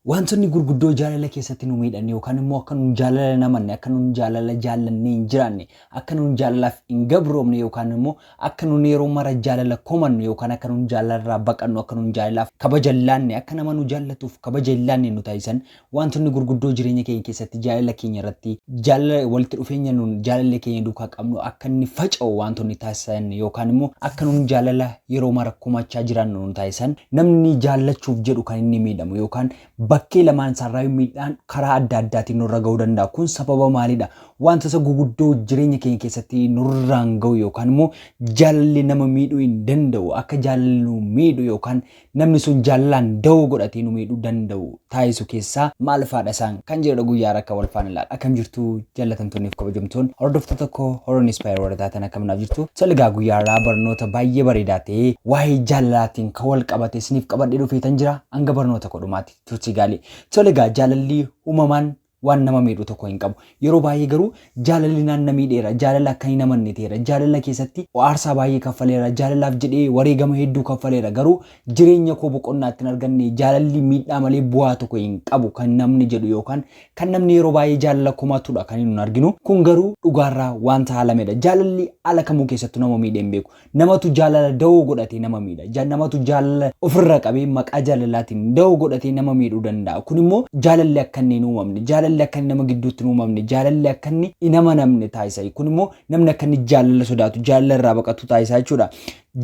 Waantonni gurguddoo jaalala keessatti nu miidhan yookaan immoo akka nun jaalala hin amanne, akka nun jaalala jaallannee hin jiraanne, akka nun jaalalaaf hin gabroomne yookaan immoo akka nun yeroo mara jaalala komannu yookaan akka nun jaalala irraa baqannu, akka nun jaalalaaf kabaja hin laanne, akka nama nu jaallatuuf kabaja hin laanne nu taasisan waantonni gurguddoo jireenya keenya keessatti jaalala keenya irratti, jaalala walitti dhufeenya nun jaalallee keenya duukaa qabnu akka inni faca'u waantonni taasisan yookaan immoo akka nun jaalala yeroo mara komachaa jiraannu nu taasisan, namni jaallachuuf jedhu kan inni miidhamu yookaan bakkee lamaan isaarraayyuu miidhaan karaa adda addaatiin nurra ga'uu danda'a. Kun sababa maaliidha? Wantoota guguddoo jireenya keenya keessatti nurraan ga'u yookaan immoo jaalalli nama miidhuu hin danda'u. Akka jaalalli nu miidhu yookaan namni sun jaalalaan dawoo godhatee nu miidhuu danda'u taasisu keessaa maal faadha isaan kan jedhudha guyyaa har'a akka wal faana ilaala. Akkam jirtu jallatamtoonni fi kabajamtoon hordoftoota koo Horon Inspire warra taatan akkam naaf jirtu. Salgaa guyyaa har'aa barnoota baay'ee bareedaa ta'e waa'ee jaalalaatiin kan wal qabate isiniif qabadhee dhufeetan jira. Hanga barnoota koo dhumaatti turtii gaarii. Salgaa jaalalli uumamaan waan nama miidhu tokko hin qabu. Yeroo baay'ee garuu jaalalli naan na miidheera, jaalala akkan hin amanne ta'eera, jaalala keessatti aarsaa baay'ee kaffaleera, jaalalaaf jedhee wareegama hedduu kaffaleera, garuu jireenya koo boqonnaa itti hin arganne, jaalalli miidhaa malee bu'aa tokko hin qabu kan namni jedhu yookaan kan namni yeroo baay'ee jaalala komatudha kan hin arginu. Kun garuu dhugaarraa wanta haalamedha. Jaalalli haala kamuu keessattuu nama miidhee hin beeku. Namatu jaalala dawoo godhatee nama miidha. Ja, namatu jaalala ofirraa qabee maqaa jaalalaatiin dawoo godhatee nama miidhuu danda'a. Kun immoo jaalalli akka inni hin uumamne, jaalalli akka inni nama gidduutti hin uumamne, jaalalli akka inni hin amanamne taasisa. Kun immoo namni akka inni jaalala sodaatu, jaalala irraa baqatu taasisa jechuudha.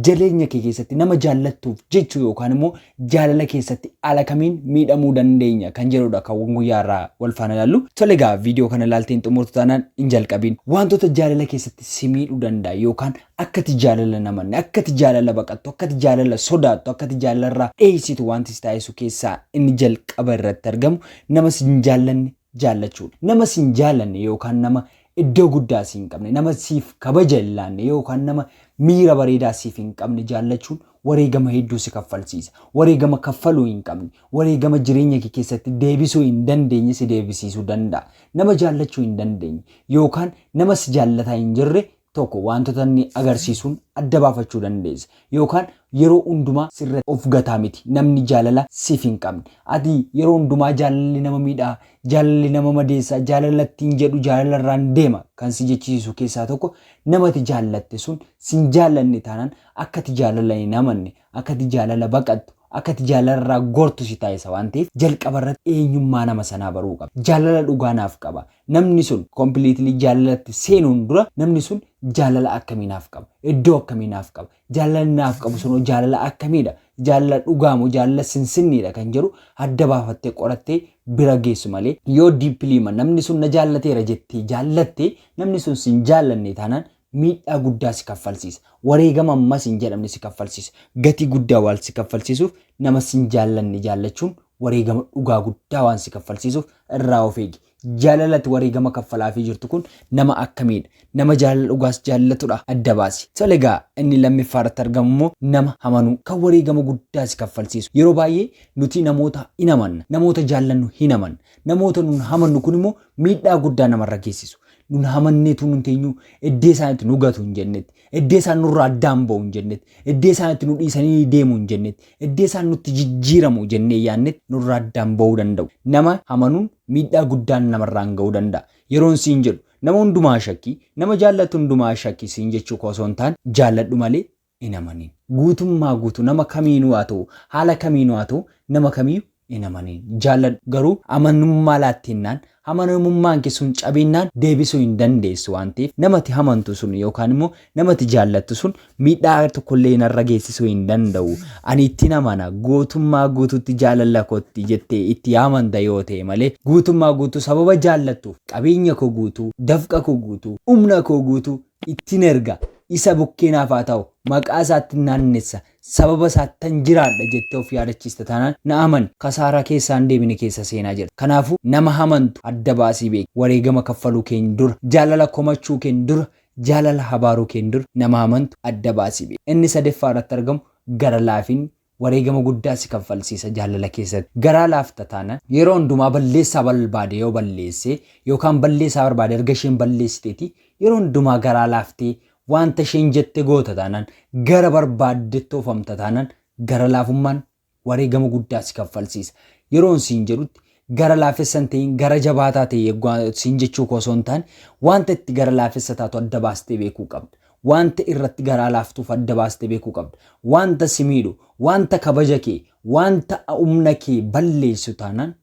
Jaleenya kee keessatti nama jaallattuuf jechuu yookaan immoo Jaalala keessatti haala kamiin miidhamuu dandeenya kan jedhudha kan guyyaa har'aa wal faana ilaallu. Tole egaa viidiyoo kana ilaaltee hin xumurtu taanaan hin jalqabiin. Wantoota jaalala keessatti si miidhuu danda'a yookaan akkati jaalala namanne, akkati jaalala baqattu, akkati jaalala sodaattu, akkati jaalala irraa dheessitu wanti si taasisu keessaa inni jalqaba irratti argamu nama si hin jaallanne jaallachuudha. Nama si hin jaallanne yookaan nama iddoo guddaa si hin qabne, nama siif kabaja hin laanne yookaan nama miira bareedaa siif hin qabne jaallachuun wareegama hedduu si kaffalsiisa. Wareegama kaffaluu hin qabne, wareegama jireenya kee keessatti deebisuu hin dandeenye si deebisiisuu danda'a. Nama jaallachuu hin dandeenye yookaan nama si jaallataa hin jirre tokko waantota inni agarsiisuun adda baafachuu dandeessa. Yookaan yeroo hundumaa sirratti of gataa miti. Namni jaalala siif hin qabne. Ati yeroo hundumaa jaalalli nama miidha, jaalalli nama madeessa, jaalala ittiin jedhu jaalala irraan deema kan si jechisiisu keessaa tokko nama ati jaallatte sun sin jaallanne taanaan akka ati jaalala hin amanne, akka ati jaalala baqattu, akka ati jaalala irraa gortu si taasisa waan ta'eef jalqaba irratti eenyummaa nama sanaa baruu qabda. Jaalala dhugaa naaf qaba, Namni sun completely jaalalatti seenuun dura namni sun jaalala akkamii naaf qaba? Iddoo akkamii naaf qaba? Jaalalli naaf qabu sunoo jaalala akkamiidha? Jaalala dhugaa moo jaalala sinsinniidha kan jedhu adda baafattee qorattee bira geessu malee yoo deeply ma namni sun na jaallateera jettee jaallatte namni sun sin jaallanne taanaan miidhaa guddaa si kaffalsiisa. Wareegama ammas hin jedhamne si kaffalsiisa. Gatii guddaa waan si kaffalsiisuuf nama sin jaallanne jaallachuun wareegama dhugaa guddaa waan si kaffalsiisuuf irraa of eegi. Jaalala ati wareegama kaffalaafii jirtu kun nama akkamiidha? Nama jaalala dhugaas jaallatudha? Adda baasi. Tole egaa inni lammiffaa irratti argamu immoo nama amanuu kan wareegama guddaa si kaffalsiisu. Yeroo baay'ee nuti namoota in amanna. Namoota jaallannu hin amanna. Namoota nun amannu kun immoo miidhaa guddaa namarra geessisu. nun hamanneetu nun teenyuu eddee isaan itti nu gatu hin jennetti eddee isaan nurraa addaan ba'u hin jennetti eddee isaan itti nu dhiisanii deemu hin jennetti eddee isaan nutti jijjiiramu jennee yaannetti nurraa addaan ba'uu danda'u nama hamanuun miidhaa guddaan namarraan ga'uu danda'a yeroon siin jedhu nama hundumaa shakkii nama jaallattu hundumaa shakkii siin jechuu koo osoo hin taane jaalladhu malee hin amaniin. Guutummaa guutuu nama kamiinuu haa ta'u, haala kamiinuu haa ta'u nama kamiyyu hin amaniin. Jaalladhu. Garuu amanummaa laatteennaan, amanamummaan kee sun cabeennaan deebisuu hin dandeessu waan ta'eef nama ati amantu sun yookaan immoo nama ati jaallattu sun miidhaa tokko illee narra geessisuu hin danda'u. Ani ittin amana, gootummaa guutuutti jaalalla kootti jettee itti amanta yoo ta'e malee guutummaa guutuu sababa jaallattuuf qabeenya koo guutuu, dafqa koo guutuu, humna koo guutuu ittin erga, isa bukkee naaf haa ta'u, maqaa isaattin naannessa, sababa isaattan jiraadha jettee of yaadachiista taanaan na amani kasaaraa keessaa hin deebine keessa seenaa jirta. Kanaafuu nama hamantu adda baasii beeki. Wareegama kaffaluu keen dura, jaalala komachuu keen dura, jaalala habaaruu keen dura nama hamantu adda baasii beeki. Inni sadeffaa irratti argamu gara laafinni, Wareegama guddaa si kanfalsiisa jaalala keessatti. Garaa laafta taanaan, yeroo hundumaa balleessaa balbaade yoo balleesse yookaan balleessaa barbaade erga isheen balleessiteeti yeroo hundumaa garaa laaftee waanta isheen jette goota taanaan, gara barbaaddetti oofamta taanaan gara laafummaan wareegama guddaa si kanfalsiisa. Yeroon siin jedhutti gara laafessa hin ta'in gara jabaataa ta'e yeggu siin jechuu koo osoo hin taane wanta itti gara laafessa taatu adda baastee beekuu qabda. Wanta irratti garaa laaftuuf adda baastee beekuu qabda. Wanta si miidhu, wanta kabaja kee, wanta humna kee balleessu taanaan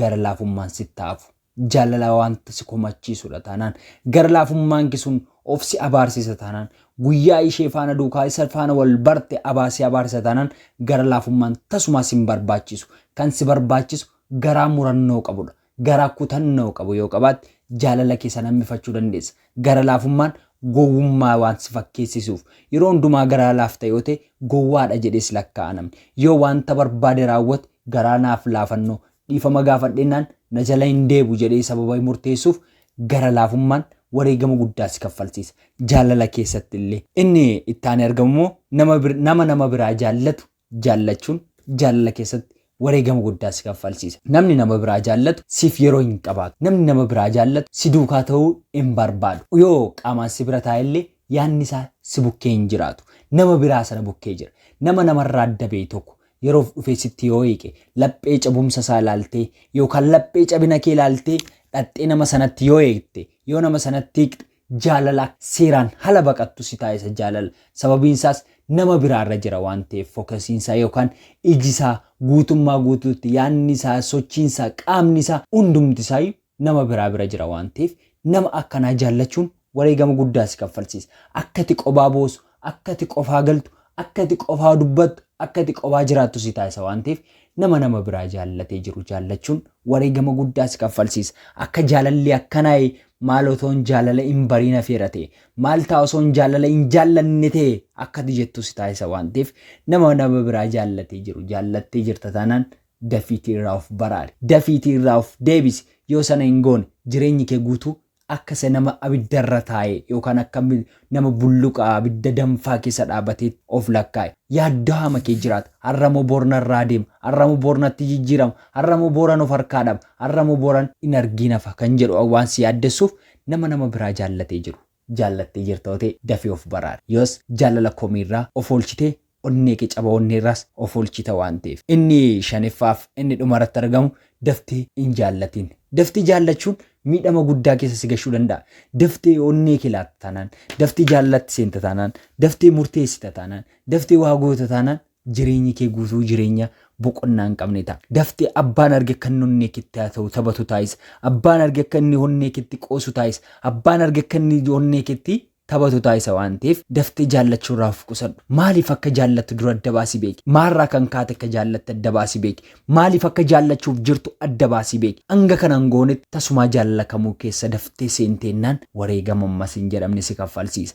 gara laafummaan sitti hafu. Jaalala wanta si komachiisudha taanaan gara laafummaan kee sun of si abaarsisa taanaan guyyaa ishee faana duukaa isa faana wal barte abaa si abaarsa taanaan gara laafummaan tasumaa sin barbaachisu kan si barbaachisu garaa murannoo qabudha garaa kutannoo qabu yoo qabaatte jaalala kee san hammifachuu dandeessa gara laafummaan gowwummaa waan si fakkeessisuuf yeroo hundumaa garaa laafta yoo ta'e gowwaadha jedhees lakkaa'a namni yoo wanta barbaade raawwate garaa naaf laafannoo Dhiifama gaafadhennaan na jala hin deebu jedhee sababa murteessuuf gara laafummaan wareegama guddaa si kaffalsiisa. Jaalala keessatti illee. Inni itti aanee argamu immoo nama bir, nama nama biraa jaallatu jaallachuun jaalala keessatti wareegama guddaa si kaffalsiisa. Namni nama biraa jaallatu siif yeroo hin qabaatu. Namni nama biraa jaallatu si duukaa ta'uu hin barbaadu. Yoo qaamaan si bira taa'e illee yaadni isaa si bukkee hin jiraatu. Nama biraa sana bukkee jira. Nama namarraa adda ba'e tokko, Yeroof dhufee sitti yoo hiiqe, laphee cabumsa isaa ilaaltee yookaan laphee cabina kee ilaaltee dhaqxee nama sanatti yoo hiikte, yoo nama sanatti hiiqxe jaalala seeraan hala baqattu si taasisa jaalala. Sababiin isaas nama biraa irra jira waan ta'eef fokasiin isaa yookaan iji isaa guutummaa guutuutti yaadni isaa, sochiin isaa, qaamni isaa hundumti isaa iyyuu nama biraa bira jira waan ta'eef nama akkanaa jaallachuun wareegama guddaa si kaffalsiisa. Akka ati qobaa boosu, akka ati qofaa galtu, akka ati qofaa dubbattu, akka ati qobaa jiraattu si taasisa waan ta'eef nama nama biraa jaallatee jiru jaallachuun wareegama guddaa si kaffalsiisa. Akka jaalalli akkanaa maal otoon jaalala hin bariin hafeera ta'e, maal ta'a osoon jaalala hin jaallanne ta'e akka ati jettu si taasisa waan ta'eef nama nama biraa jaallatee jiru jaallattee jirta taanaan Dafiitii irraa of baraari. Dafiitii irraa of deebisi. Yoo sana hin goone jireenyi kee guutuu akka isa nama abidda irra taa'ee yookaan akka nama bulluqa abidda danfaa keessa dhaabateetti of lakkaa'i. Yaadda'aama kee jiraata. Har'a moo bor narraa deema? Har'a moo bor natti jijjiirama? Har'a moo boran of harkaa dhaba? Har'a moo boran hin argiin hafa? kan jedhu waan si yaaddessuuf nama nama biraa jaallatee jiru. jaallattee jirta yoo ta'e dafii of baraari. Yoos jaalala komiirraa of oolchitee onneekee caba onneerraas of oolchita waan ta'eef. Inni shaneffaaf inni dhumarratti argamu daftee hin jaallatiin. Daftee jaallachuun miidhama guddaa keessa si gashuu danda'a. Daftee onneekee laatta taanaan, daftee jaalalatti seenta taanaan, daftee murteessita taanaan, daftee waa goota taanaan Jireenyi kee guutuu jireenya boqonnaa hin qabne ta'a. Daftee abbaan arge akka inni onnee keetti haasa'u, taphatu taasisa. Abbaan arge akka inni onnee keetti qoosu taasisa. Abbaan arge akka inni onnee keetti taphatu taasisa waan ta'eef daftee jaallachuu irraa of qusadhu. Maaliif akka jaallattu dura adda baasii beeki. Maalirraa kan kaate akka jaallatte adda baasii beeki. Maaliif akka jaallachuuf jirtu adda baasii beeki. Hanga kana hin goonetti tasumaa jaalala kamuu keessa daftee seenteennaan wareegama ammas hin jedhamne si kaffalsiisa.